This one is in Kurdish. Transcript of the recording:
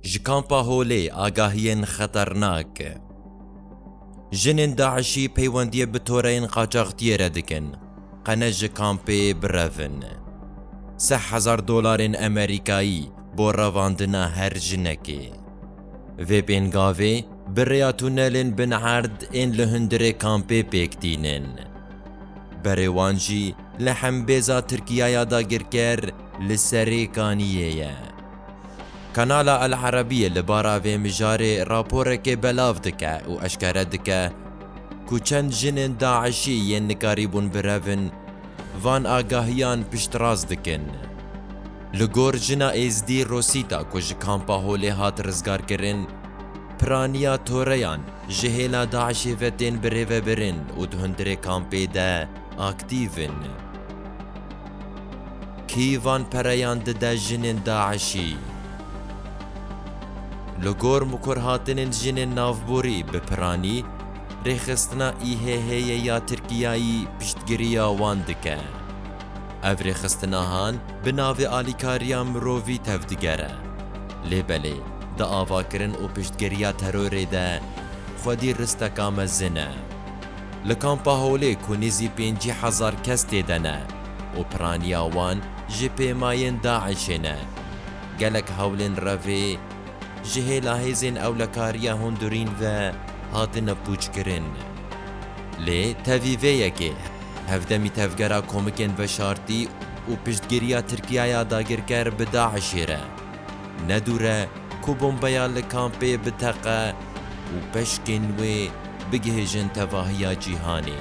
Ji Kampa Holê agahiyên xeternak. Jinên DAIŞ'î peywendiyê bi toreyên qaçaxtiyê re dikin, qene ji kampê birevin. Seh hezar dolarên Emerîkayî bo revandina her jinekê. Vê pêngavê bi rêya tunelên bin erd ên li hundirê kampê pêk tînin. Berê wan jî li hembêza Tirkiyaya dagirker li Serêkaniyê ye. Kanala El Arabîyê li bara vê mijarê raporekê belav dike û eşkere dike ku çend jinên DAIŞ'î yên nikarîbûn birevin, van agahiyan piştrast dikin. Li gor jina Êzdî Rosîta ku ji Kampa Holê hat rizgarkirin, piraniya toreyan ji hêla DAIŞ'ê ve tên birêvebirin û di hundirê kampê de aktîv in. Kî van pereyan dide jinên DAIŞ'î? Li gor mikurhatinên jinên navborî bi piranî, rêxistina IHH'ê ya Tirkiyeyî piştgiriya wan dike. Ev rêxistinahan bi navê alîkariya mirovî tevdigere. Lê belê di avakirin û piştgiriya terorê de xwedî risteka mezin e. Li Kampa Holê ku nêzî pêncî hezar kes tê de ne û piraniya wan ji pêmayên DAIŞ'ê ne, gelek hewlên revê ji hêla hêzên ewlekariya hundurîn ve hatine pûçkirin. Lê tevî vê yekê, hevdemî tevgera komikên veşartî û piştgiriya Tirkiyaya dagirker bi DAIŞ'ê re, Ne dûr e ku bombeya li kampê biteqe û peşkên wê bigihêjin tevahiya cîhanê.